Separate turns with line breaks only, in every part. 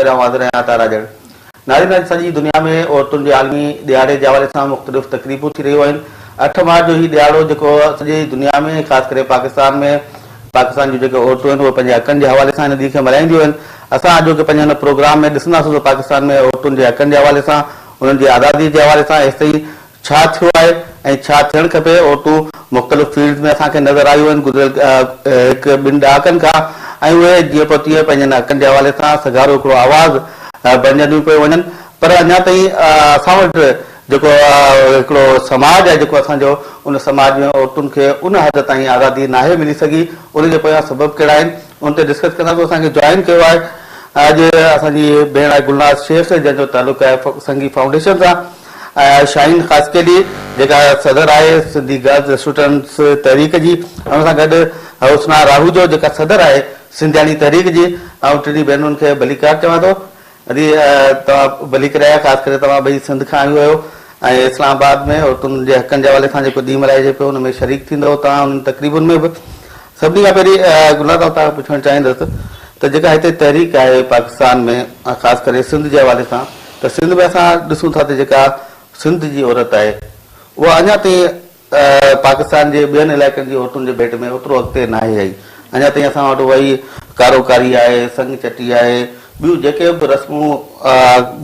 پهريان واضح رهيا ته راڄڙ نارين اڄ سڄي دنيا ۾ عورتن جي عالمي ڏهاڙي جي حوالي سان مختلف تقريبون ٿي رهيون آهن اٺ مارچ جو هي ڏهاڙو جيڪو سڄي دنيا ۾ خاص ڪري پاڪستان ۾ پاڪستان جون جيڪي عورتون آهن اهي پنهنجي حقن جي حوالي سان هن ڏينهن کي ملهائينديون آهن اسان اڄوڪي پنهنجي هن پروگرام ۾ ڏسنداسون ته پاڪستان ۾ عورتن جي حقن جي حوالي سان انهن جي آزادي جي حوالي سان ايستائين ڇا ٿيو آهي ۽ ڇا ٿيڻ کپي، اوٽون مختلف فيلڊز ۾ اسان کي نظر آيون آهن گذريل هڪ ٻن ڏهاڪن کان ۽ اهي جيئن پوء تيئن پنهنجن حقن جي حوالي سان سگهارو هڪڙو آواز بڻجنديون پيون وڃن پر اڃا تائين اسان وٽ جيڪو هڪڙو سماج آهي جيڪو اسان جو ان سماج ۾ عورتن کي ان حد تائين آزادي ناهي ملي سگهي ان جي پويان سبب ڪهڙا آهن ان تي ڊسڪس ڪنداسون اسان کي جوائن ڪيو آهي اڄ اسان جي هي ڀيڻ آهي گلناز شيخ جنهن جو تعلق آهي سنگي فائونڊيشن سان ۽ شاهين خاصخيلي جيڪا صدر آهي سنڌي گرلز اسٽوڊنٽس تحريڪ جي ۽ ان سان گڏ حسنا راهوجو جيڪا صدر آهي سنڌياڻي تحريڪ جي آئون ٽنهي ڀينرن کي ڀليڪار چوان ٿو ادي توهان ڀليڪ رهيا خاص ڪري توهان ٻئي سنڌ کان آيون آهيو ۽ اسلام آباد ۾ عورتن جي حقن جي حوالي سان جيڪو ڏينهن ملهائجي پيو ان ۾ شريڪ ٿيندو توهان انهن تقريبن ۾ به سڀني کان پهرين گلنار صاحب تان پڇڻ چاهيندس ته جيڪا هتي تحريڪ آهي پاڪستان ۾ خاص ڪري سنڌ جي حوالي سان ته سنڌ ۾ اسان ڏسون ٿا ته جيڪا سنڌ جي عورت آهي اها اڃا تائين پاڪستان جي ٻين علائقن جي عورتن جي ڀيٽ ۾ اوترو اڳتي ناهي آئي اڃا تائين اسان وٽ اهائي ڪارو ڪاري آهي سڱ چٽي آهي ٻيون جيڪي به رسمون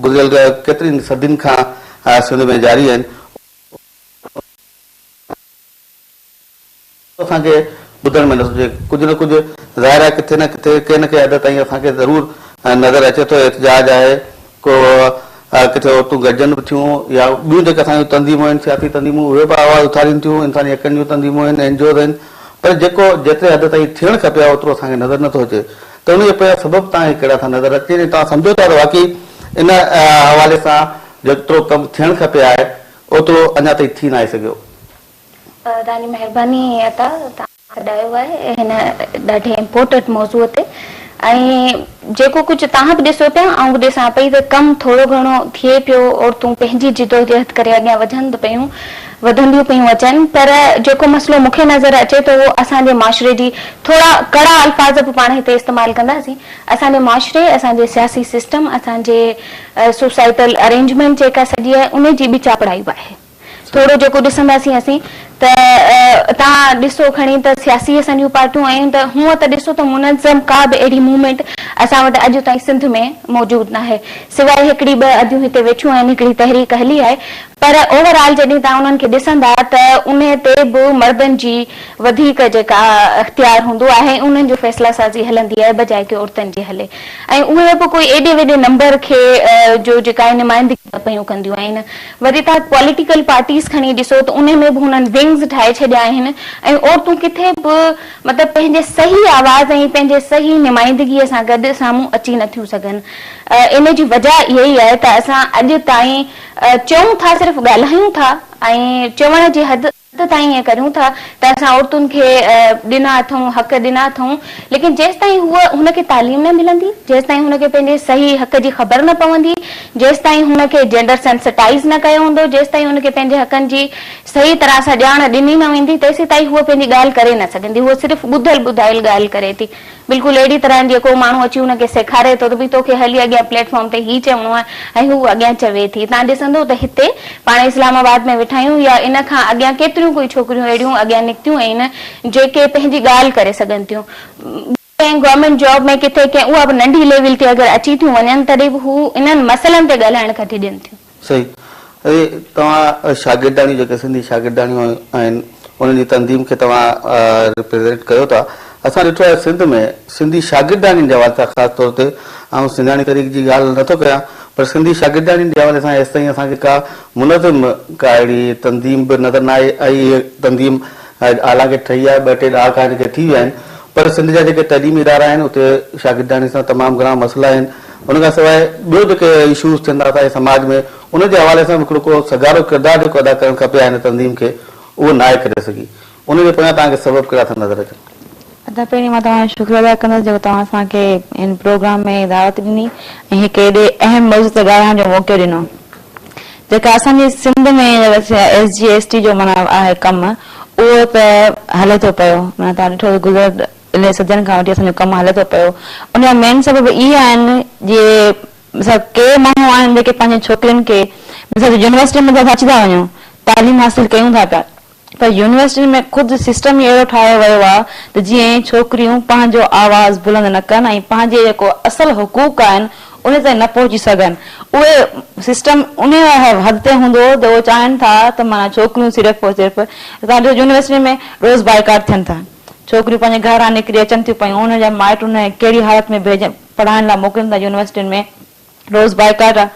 گذريل ڪيترين صدين کان سنڌ ۾ جاري آهن اسان کي ٻڌڻ ۾ نٿو اچي. ڪجهه نه ڪجهه ظاهر آهي ڪٿي نه ڪٿي ڪنهن نه ڪنهن حد تائين اسان کي ضرور نظر اچي ٿو احتجاج آهي ڪو ڪٿي عورتون گڏجن به ٿيون يا ٻيون جيڪي اسان جون تنظيمون آهن سياسي تنظيمون اهي به آواز اٿارين ٿيون انساني حقن جون تنظيمون آهن اين جي اوز آهن پر جيڪو جيتري حد تائين ٿيڻ کپي ها اوترو اسان کي نظر نٿو اچي ته ان جا پيا سبب توهان کي ڪهڙا ٿا نظر اچين ۽ توهان سمجهو ٿا ته واقعي ان حوالي سان جيترو ڪم ٿيڻ کپي آهي اوترو اڃا تائين ٿي ناهي سگهيو. توهان
جي مهرباني اها ته توهان سڏايو آهي هن ڏاڍي امپورٽنٽ موضوع تي ۽ جيڪو ڪجهه توهان به ڏسو پيا آئون به ڏسان پئي ته ڪم ٿورو گهڻو ٿئي پيو عورتون پنهنجي جدوجهد ڪري اڳيان وڌن به پيون وڌنديون پيون اچن پر جيڪو مسئلو مونکي نظر اچي ٿو اهو اسان جي معاشري جي ٿورا ڪڙا الفاظ به پاڻ هتي استعمال ڪنداسين اسان جي معاشري اسان جي سياسي سسٽم اسان جي سوسائيٽل ارينجمينٽ جيڪا سڄي آهي ان جي به چاپڙائي به آهي. ٿورو جيڪو ڏسنداسين اسين ته تان ڏسو کڻي ته سياسي اسان جون پارٽيون آيون ته هونء ته ڏسو ته منظم ڪا به اهڙي موومينٽ اسان وٽ اڄ تائين سنڌ ۾ موجود ناهي سواء هڪڙي ٻه اديون هتي ويٺيون آهن هڪڙي تحريڪ هلي آهي پر اوور آل جڏهن تان انهن کي ڏسندا ته انهي تي به مردن جي وڌيڪ جيڪا اختيار هوندو آهي ۽ انهن جو فيصلا سازي هلندي آهي بجاء ڪي عورتن جي هلي ۽ اهي به ڪوئي ايڏي وڏي نمبر کي جو جيڪا نمائندگي ته پيون ڪنديون آهن وري توهان پوليٽيڪل پارٽيز کڻي ڏسو ته انهي ۾ به هنن ونگز ٺاهي ڇڏيا آهن ۽ عورتون ڪٿي به مطلب پنهنجي صحيح آواز ۽ پنهنجي صحيح نمائندگي سان گڏ سامهون اچي نٿيون سگهن ان جي وجه اها ئي آهي ته اسان اڄ تائين چئون ٿا صرف ڳالهايون ٿا ۽ چوڻ جي حد هٿ تائين ائين ڪريون ٿا ته اسان عورتن کي ڏنا اٿئون، حق ڏنا اٿئون، ليڪن جيستائين هوء هن کي تعليم نه ملندي، جيستائين هن کي پنهنجي صحيح حق جي خبر نه پوندي، جيستائين هن کي جينڊر سينسٽائيز نه ڪيو ويندو، جيستائين هن کي پنهنجي حقن جي صحيح طرح سان ڄاڻ ڏني نه ويندي، تيسيتائين هوء پنهنجي ڳالهه ڪري نه سگهندي، هوء صرف ٻڌل ٻڌايل ڳالهه ڪري ٿي. بلڪل اهڙي طرح جيئن ڪو ماڻهو اچي هن کي سيکاري ٿو ته ڀئي توکي هلي اڳيان پليٽ فارم تي هي چوڻو آهي ۽ هو اڳيان چوي ٿي. تان ڏسندو ته هتي، پاڻ اسلام آباد ۾ ويٺا آهيون يا ان کان اڳيان ڪيتريون ڪوئي ڇوڪريون اهڙيون اڳيان نڪتيون آهن جيڪي پنهنجي ڳالهه ڪري سگهن ٿيون. ڪنهن گورنمينٽ جاب ۾ ڪٿي ڪنهن اها به ننڍي ليول تي اگر اچي ٿيون وڃن تڏهن به هو انهن مسئلن تي ڳالهائڻ کان ڊڄن ٿيون. صحيح
اهي توهان شاگرداڻيون جيڪي سنڌي شاگرداڻيون آهن انهن جي تنظيم کي توهان ريپريزينٽ ڪيو ٿا اسان ڏٺو آهي سنڌ ۾ سنڌي شاگرداڻين جي حوالي سان خاص طور تي آئون سنڌياڻي تحريڪ جي ڳالهه نه ٿو ڪيان پر سنڌي شاگرداڻين جي حوالي سان هيستائين اسان کي ڪا منظم ڪا اهڙي تنظيم به نظر نه آئي آئي هي تنظيم اعليٰ کي ٺهي آهي ٻه ٽي ڏهاڪا هن کي ٿي ويا آهن پر سنڌ جا جيڪي تعليمي ادارا آهن اتي شاگرداڻين سان تمام گهڻا مسئلا آهن ان کان سواء ٻيو جيڪي اشوز ٿين ٿا اسان جي سماج ۾ ان جي حوالي سان به هڪڙو ڪو سگهارو ڪردار جيڪو ادا ڪرڻ کپي ها هن تنظيم کي اهو ناهي ڪري سگهي ان جي پويان توهان کي سبب ڪهڙا ٿا نظر اچن؟ ادا پهرين مان
توهان جو شڪريو ادا ڪندس جيڪو توهان اسان کي هن پروگرام ۾ دعوت ڏني ۽ هڪ ايڏي اهم موضوع تي ڳالهائڻ جو موقعو ڏنو جيڪا اسان جي Sindh ۾ S G S T جو معنيٰ آهي ڪم اهو ته هلي ٿو پيو معنيٰ توهان ڏٺو ته گذريل انهن صدين کان وٺي اسان جو ڪم هلي ٿو پيو ان جا مين سبب اهي آهن جي مثلا ڪي ماڻهو آهن جيڪي پنهنجين ڇوڪرين کي مثلا يونيورسٽين ۾ ته اسان اچي ٿا وڃون تعليم حاصل ڪيون ٿا پيا پر يونيورسٽين ۾ خود سسٽم ئي اهڙو ٺاهيو ويو آهي ته جيئن ڇوڪريون پنهنجو آواز بلند نه ڪن ۽ پنهنجي جيڪو اصل حقوق آهن انهي تائين نه پهچي سگهن اهي سسٽم انهي حد تي هوندو ته اهي چاهين ٿا ته معنيٰ ڇوڪريون صرف ۽ صرف اسان ڏسو يونيورسٽين ۾ روز بائيڪاٽ ٿين ٿا. ڇوڪريون پنهنجي گهران نڪري اچن ٿيون پيون انهن جا مائٽ انهن کي ڪهڙي حالت ۾ ڀيڄ پڙهائڻ لاء موڪلين ٿا يونيورسٽين ۾ روز بائيڪاٽ آ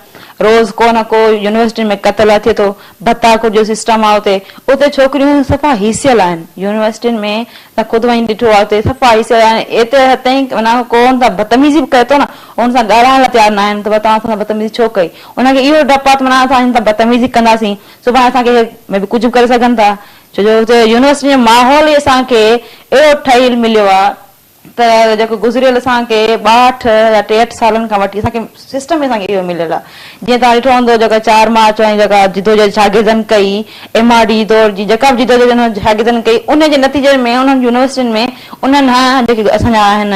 روز ڪو نه ڪو يونيورسٽين ۾ قتل آ ٿئي ٿو ڀتا ڪو جو سسٽم آ اتي اتي ڇوڪريون صفا هيسيل آهن يونيورسٽين ۾ تان خود وڃي ڏٺو آ اتي صفا هيسيل آهن ايتري حد تائين معنيٰ ڪو ان سان بتميزي به ڪري ٿو نه ان سان ڳالهائڻ لاء تيار ناهن ته توهان اسان سان بتميزي ڇو ڪئي انهن کي اهو ڊپ آ ته معنيٰ اسان هنن سان بتميزي ڪنداسين سڀاڻي اسان کي مي بي ڪجهه به ڪري سگهن ٿا ڇو جو هتي يونيورسٽي جو ماحول ئي اسان کي اهڙو ٺهيل مليو آهي ته جيڪو گذريل اسان کي ٻاهٺ يا ٽيهٺ سالن کان وٺي اسان کي سسٽم ئي اسان کي اهو مليل آهي. جيئن توهان ڏٺو هوندو جيڪا چار مارچ واري جيڪا جدوجهد شاگردن ڪئي، ايم آر ڊي دور جي جيڪا به جدوجهد انهن شاگردن ڪئي انهي جي نتيجي ۾ انهن يونيورسٽين ۾ انهن هان جيڪي اسان جا آهن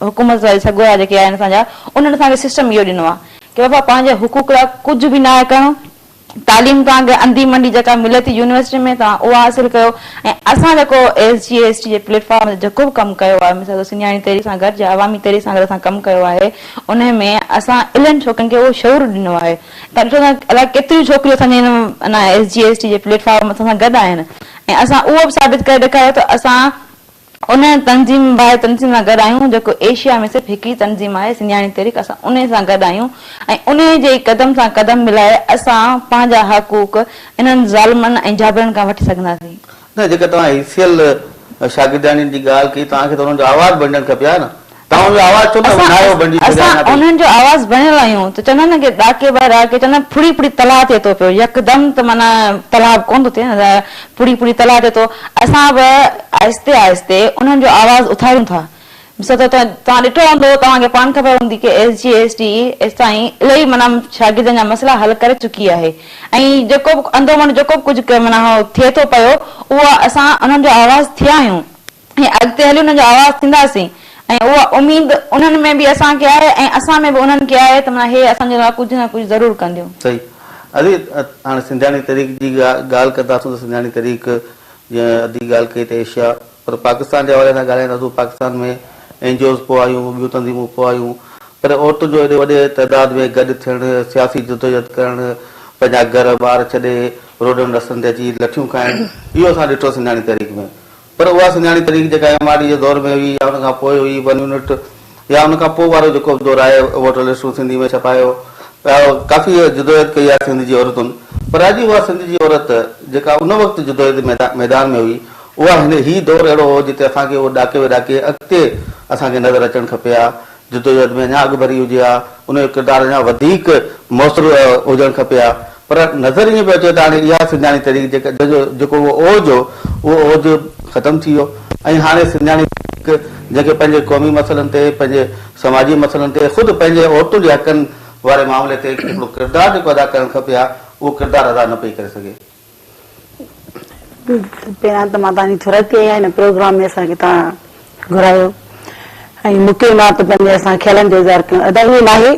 حڪومت واري سڳورا جيڪي آهن اسان جا انهن اسان کي سسٽم اهو ڏنو آهي ڪي بابا پنهنجي حقوق لاء ڪجهه به ناهي ڪرڻو، تعليم توهان کي انڌي منڊي جيڪا ملي ٿي يونيورسٽي ۾ توهان اها حاصل ڪيو ۽ اسان جيڪو ايس جي ايس ٽي جي پليٽ فارم تي جيڪو به ڪم ڪيو آهي مثال طور سنڌياڻي تحريڪ سان گڏ جا عوامي تحريڪ سان گڏ اسان ڪم ڪيو آهي ان ۾ اسان الهن ڇوڪرين کي اهو شعور ڏنو آهي تون ڏٺو ته الائي ڪيتريون ڇوڪريون اسان جي ان ايس جي ايس ٽي جي پليٽ فارم اسان سان گڏ آهن ۽ اسان اهو به ثابت ڪري ڏيکاريو ته اسان ان تنظيم ڀائي تنظيم سان گڏ آهيون جيڪو ايشيا ۾ صرف هڪ ئي تنظيم آهي سنڌياڻي تحريڪ اسان انهي سان گڏ آهيون ۽ انهي جي ئي قدم سان قدم ملائي اسان پنهنجا حقوق انهن ظالمن ۽ جابرن کان وٺي سگهنداسين. نه جيڪا توهان اي
سي ايل شاگردياڻين جي ڳالهه ڪئي توهان کي ته انهن جو آواز بڻجڻ کپي ها نه توهان جو آواز ڇو نه وڃايو بڻجي سگهيا اسان
ٿا انهن جو آواز بڻيل آهيون ته چوندا آهن نه ڏاڪي بهر آ ڪي چوندا آهن ڦڙي ڦڙي تلاء ٿئي ٿو پيو يڪدم ته معنيٰ تلاء به ڪونه ٿو ٿئي نه ڦڙي ڦڙي تلاء ٿئي ٿو اسان به آهستي آهستي انهن جو آواز اٿاريون ٿا ڏسو ته توهان ڏٺو هوندو توهان کي پاڻ خبر هوندي ڪي ايس جي ايس ٽي ايستائين الائي معنيٰ شاگردن جا مسئلا حل ڪري چڪي آهي ۽ جيڪو به اندومنڊ جيڪو به ڪجهه معنيٰ ٿئي ٿو پيو اهو اسان انهن جو آواز ٿيا آهيون ۽ اڳتي هلي انهن جو آواز ٿينداسين ۽ اها اميد انهن ۾ به اسان کي آهي ۽ اسان ۾ به انهن کي آهي ته معنيٰ هي اسان جي لاء ڪجهه نه ڪجهه ضرور ڪنديون. صحيح ادي
هاڻي سنڌياڻي تحريڪ جي ڳالهه ڪنداسون ته سنڌياڻي تحريڪ جيئن ادي ڳالهه ڪئي ته ايشيا پر پاڪستان جي حوالي سان ڳالهائينداسون پاڪستان ۾ اين جي اوز پوء آيون ٻيون تنظيمون پوء آيون پر عورتن جو ايڏي وڏي تعداد ۾ گڏ ٿيڻ سياسي جدوجهد ڪرڻ پنهنجا گهر ٻار ڇڏي روڊن رستن تي اچي لٺيون کائڻ اهو اسان ڏٺو سنڌياڻي تحريڪ ۾ پر اها سڃاڻي تحريڪ جيڪا ايم آر ڊي جي دور ۾ هئي يا ان کان پوء هئي، ون يونٽ يا ان کان پوء وارو جيڪو به دور آهي، ووٽر لسٽون سنڌي ۾ ڇپايو پيا، ڪافي جدوجهد ڪئي آهي سنڌ جي عورتن، پر اڄ اها سنڌ جي عورت جيڪا ان وقت جدوجهد ميدان ۾ هئي، اها هن هي دور اهڙو هو جتي اسان کي اهو ڏاڪي وڏاڪي اڳتي اسان کي نظر اچڻ کپي ها جدوجهد ۾ اڃا اڳڀري هجي ها، ان جو ڪردار اڃا وڌيڪ موثر هجڻ کپي ها، پر نظر ائين پيو اچي ته هاڻي اها سنڌياڻي تحريڪ جيڪا جنهن جو جيڪو اهو اوج هو، اهو اوج ختم ٿي ويو ۽ هاڻي سنڌياڻي تحريڪ جنهن کي پنهنجي قومي مسئلن تي، پنهنجي سماجي مسئلن تي، خود پنهنجي عورتن جي حقن واري معاملي تي هڪڙو ڪردار جيڪو ادا ڪرڻ کپي ها، اهو ڪردار ادا نه پئي ڪري سگهي.
پهريان ته مان توهان جي ٿورائتي آهيان هن پروگرام ۾ اسان کي توهان گهرايو ۽ موقعي مان ته پنهنجي اسان خيالن جو اظهار ڪيون ادا ائين ناهي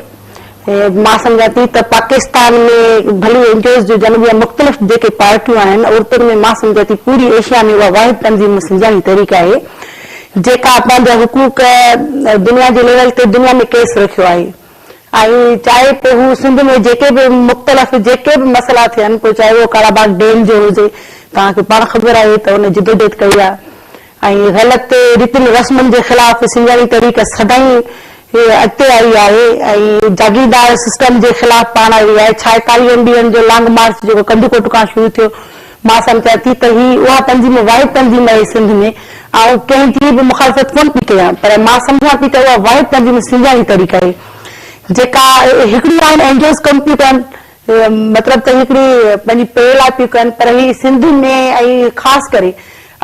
مان سمجهان ٿي ته پاڪستان ۾ ڀلي اين جي اوز جو جنم يا مختلف جيڪي پارٽيون آهن عورتن ۾ مان سمجهان ٿي پوري ايشيا ۾ اها واحد تنظيم مان سمجهان جي تحريڪ آهي جيڪا پنهنجا حقوق دنيا جي ليول تي دنيا ۾ ڪيس رکيو آهي ۽ چاهي پوء هو سنڌ ۾ جيڪي به مختلف جيڪي به مسئلا ٿين پوء چاهي اهو ڪالا باغ ڊيم جو هجي توهان کي پاڻ خبر آهي ته ان جدوجهد ڪئي آهي ۽ غلط ريتن رسمن جي خلاف سنڌياڻي تحريڪ سدائين اڳتي آئي آهي ۽ جاگيردار سسٽم جي خلاف پاڻ آئي آهي ڇاهي ڪاري ايم ڊي اين جو لانگ مارچ جيڪو ڪنڌڪوٽ کان شروع ٿيو مان سمجهان ٿي ته هي اها تنظيم واحد تنظيم آهي سنڌ ۾ آئون ڪنهن جي به مخالفت ڪونه پئي ڪيان پر مان سمجهان ٿي ته اها واحد تنظيم سنڌياڻي تحريڪ آهي جيڪا هڪڙي آهن اينجوز ڪم پيون ڪن مطلب ته هڪڙي پنهنجي پي لاء پيون ڪن پر هي سنڌ ۾ ۽ خاص ڪري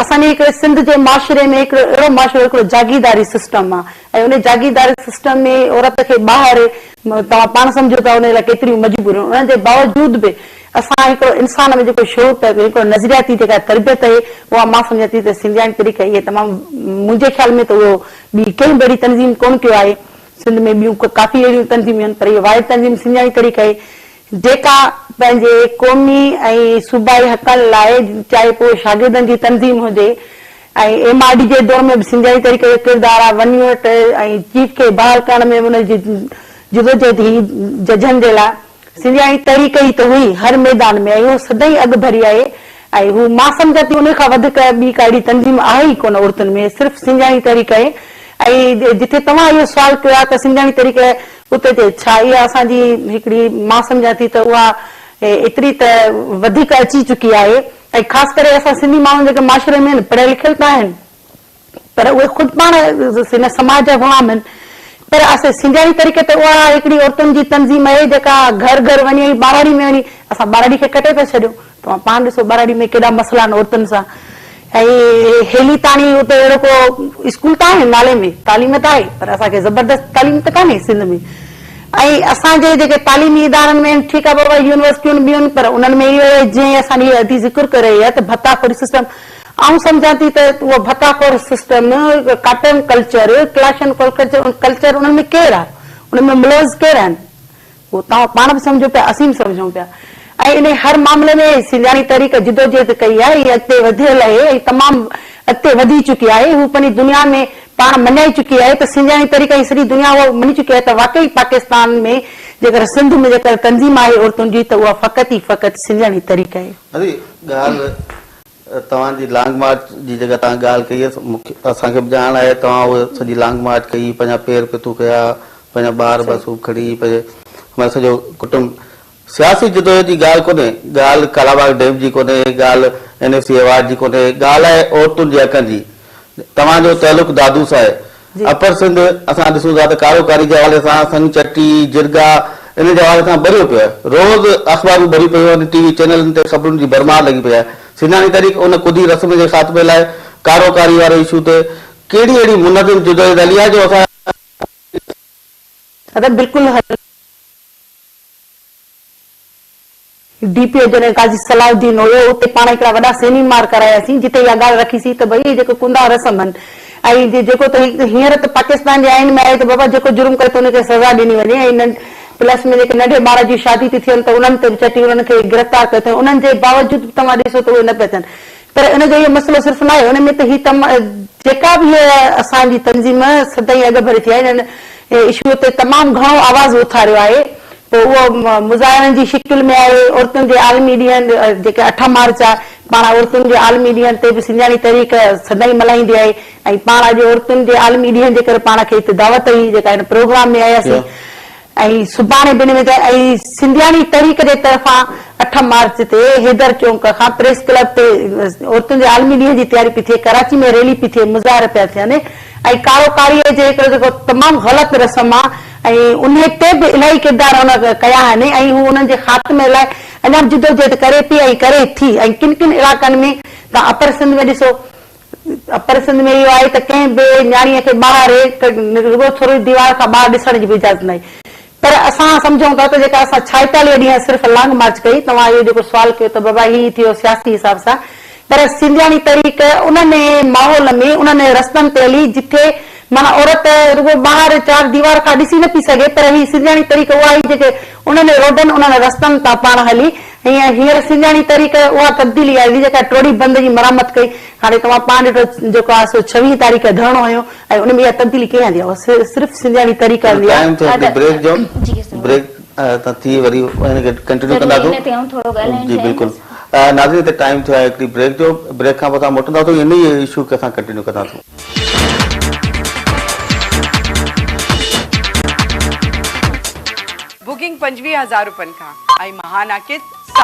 اسان جي هڪڙي سنڌ جي معاشري ۾ هڪڙو اهڙو معاشرو هڪڙو جاگيرداري سسٽم آ ۽ ان جاگيرداري سسٽم ۾ عورت کي ٻاهر توهان پاڻ سمجهو ٿا ان لاء ڪيتريون مجبوريون ان جي باوجود به اسان هڪڙو انسان ۾ جيڪو شعور پئي ڪري هڪڙو نظرياتي جيڪا تربيت آهي اها مان سمجهان ٿي ته سنڌياڻي طريقي اهي تمام منهنجي خيال ۾ ته اهو ٻي ڪنهن به اهڙي تنظيم ڪونه ڪيو آهي سنڌ ۾ ٻيون ڪافي اهڙيون تنظيمون آهن پر اهي واحد تنظيم سنڌياڻي طريقي آهي جيڪا پنهنجي قومي ۽ صوبائي حقن لاء چاهي پوء شاگردن جي تنظيم هجي ۽ ايم آر ڊي جي دور ۾ به سنڌياڻي طريقي جو ڪردار آهي ون يونٽ ۽ چيف کي بحال ڪرڻ ۾ به ان جي جدوجهد هئي ججن جي لاء سنڌياڻي تحريڪ ئي ته هئي هر ميدان ۾ ۽ اهو سدائين اڳڀري آهي ۽ هو مان سمجهان ٿي انهي کان وڌڪ ٻي ڪا اهڙي تنظيم آهي ئي ڪونه عورتن ۾ صرف سنڌياڻي تحريڪ آهي ۽ جتي توهان اهو سوال ڪيو آهي ته سنڌياڻي تحريڪ اتي تي ڇا اها اسان جي هڪڙي مان سمجهان ٿي ته اها ايتري ته وڌيڪ اچي چڪي آهي ۽ خاص ڪري اسان سنڌي ماڻهو جيڪي معاشري ۾ آهن پڙهيل لکيل ته آهن پر اهي خود پاڻ هن سماج جا غلام آهن. پر اسين سنڌياڻي طريقي تي اها هڪڙي عورتن جي تنظيم اهي جيڪا گهر گهر وڃي ۽ ٻهراڙي ۾ وڃي اسان ٻهراڙي کي ڪٽي پيا ڇڏيون. توهان پاڻ ڏسو ٻهراڙي ۾ ڪيڏا مسئلا آهن عورتن سان ۽ هيلي تاڻي اتي اهڙو ڪو اسڪول ته آهي نالي ۾ تعليم ته آهي پر اسان کي زبردست تعليم ته ڪانهي سنڌ ۾ ۽ اسان جي جيڪي تعليمي ادارن ۾ آهن ٺيڪ آهي بابا يونيورسٽيون ٻيون پر انهن ۾ اهي جئين اسان جي ادي ذڪر ڪري هي ته ڀتا خوري سسٽم آئون سمجهان ٿي ته اهو ڀڪا خور سسٽم، ڪاٽن ڪلچر، ڪلاشن ڪلچر انهن ۾ ڪير آ؟ انهن ۾ ملوث ڪير آهن؟ اهو توهان پاڻ به سمجهو پيا، اسين به سمجهون پيا ۽ انهي هر معاملي ۾ سنڌياڻي تحريڪ جدوجهد ڪئي آهي، هي اڳتي وڌيل اهي ۽ تمام اڳتي وڌي چڪي آهي، هو پنهنجي دنيا ۾ پاڻ مڃائي چڪي آهي ته سنڌياڻي تحريڪ ۽ سڄي دنيا اهو مڃي چڪي آهي ته واقعي پاڪستان ۾ جيڪر سنڌ ۾ جيڪر تنظيم آهي عورتن جي ته اها فقط ئي فقط سنڌياڻي تحريڪ آهي. اري ڳالهه
توهان جي لانگ مارچ جي جيڪا توهان ڳالهه ڪئي آهي، اسان کي به ڄاڻ آهي توهان اهي سڄي لانگ مارچ ڪئي، پنهنجا پير پتو ڪيا، پنهنجا ٻار به اصوب کڻي، پنهنجي معنيٰ سڄو ڪٽنب، سياسي جدوجهد جي ڳالهه ڪونهي، ڳالهه ڪالاباغ ڊيم جي ڪونهي، ڳالهه اين ايف سي ايوارڊ جي ڪونهي، ڳالهه آهي عورتن جي حقن جي، توهان جو تعلق دادو سان آهي. اپر سنڌ اسان ڏسون ٿا ته ڪارو ڪاري جي حوالي سان سنگ چٽي، جرڳا انهن جي حوالي سان ٻريو پيو آهي. روز اخبارون ڀريون پيون آهن، ٽي وي چينلن تي خبرن جي ڀرمار لڳي پئي آهي. سنڌاڻي تحريڪ ان ڪڌي رسم جي خاتمي لاء ڪارو ڪاري واري اشو تي ڪهڙي اهڙي منظم جدوجهد هلي آهي جو اسان جي سنڌ جي سياسي ۽ معاشي حالتن کي
بدلائي سگهي. D P O general Qazi Salahuddin هيو، اتي پاڻ هڪڙا وڏا سيميمار ڪراياسين، جتي اها ڳالهه رکي سين ته ڀئي اهي جيڪو ڪندا رسم هن ۽ جيڪو ته هينئر ته پاڪستان جي آئين ۾ آهي ته بابا جيڪو جرم ڪري ته ان کي سزا ڏني وڃي ۽ پلس ۾ جيڪي ننڍي ٻار جي شادي ٿي ٿين ته انهن تي به چٽي انهن کي گرفتار ڪيو اٿن انهن جي باوجود به توهان ڏسو ته اهي نه پيا ٿين. پر ان جو اهو مسئلو صرف ناهي، ان ۾ ته هي تم جيڪا به هيء اسان جي تنظيم سدائين اڳڀري ٿي آهي، هن اشوء تي تمام گهڻو آواز اٿاريو آهي، پوء اهو مظاهرن جي شڪل ۾ آهي، عورتن جي عالمي ڏينهن جيڪي اٺ مارچ آهي، پاڻ عورتن جي عالمي ڏينهن تي به سنڌياڻي تحريڪ سدائين ملهائيندي آهي ۽ پاڻ اڄ عورتن جي عالمي ڏينهن جي ڪري پاڻ کي هتي دعوت هئي جيڪا هن پروگرام ۾ آياسين. اي سڀاڻي بنهه ۾ ته اي سنڌياڻي تحريڪ جي طرفان اٺ مارچ تي حيدر چونڪ کان پريس ڪلب تي عورتن جي عالمي ڏينهن جي تياري پئي ٿئي ڪراچي ۾ ريلي پئي ٿئي مظاهر پيا ٿين ۽ ڪارو ڪاري جي هڪڙو جيڪو تمام غلط رسم آ ۽ انهي تي به الاهي ڪردار هن ڪيا آهن ۽ هو انهن جي خاتمي لاء اڃا به جدوجهد ڪري پئي ۽ ڪري ٿي ۽ ڪن ڪن علاقن ۾ تان اپر سنڌ ۾ ڏسو اپر سنڌ ۾ اهو آهي ته ڪنهن به نياڻيء کي ٻاهر رڳو ٿورڙي ديوار کان ٻاهر ڏسڻ جي به اجازت ناهي. پر اسان سمجهون ٿا ته جيڪا اسان ڇائيتاليهه ڏينهن صرف لانگ مارچ ڪئي، توهان اهو جيڪو سوال ڪيو ته بابا هي ٿيو سياسي حساب سان، پر سنڌياڻي تحريڪ انهن ماحول ۾ انهن رستن تي هلي جتي معنيٰ عورت رڳو ٻاهر چار ديوار کان ڏسي نه پئي سگهي پر هي سنڌياڻي تحريڪ اها هئي جيڪي انهن روڊن، انهن رستن تان پاڻ هلي ائين هينئر سيلياڻي تحريڪ اها تبديلي آئي هئي جيڪا ٽوڙي بند جي مرمت ڪئي. هاڻي توهان پاڻ ڏٺو جيڪو آهي سو ڇويهين تاريخ ڌرڻو هنيو ۽ ان ۾ اها تبديلي ڪنهن آندي آهي؟ اها صرف سيلياڻي تحريڪ آندي آهي. ٽائيم ٿو هلي بريڪ جو بريڪ تان ٿي وري هن
کي ڪنٽينيو ڪندا ٿو جي بلڪل ناظرين هتي ٽائيم ٿيو آهي هڪڙي بريڪ جو بريڪ کان پوء اسان موٽندا ٿو انهي ئي اشو کي اسان ڪنٽينيو ڪندا ٿو.
بوڪنگ پنجويهه هزار روپين کان ۽ مهاناڪيت ساهه.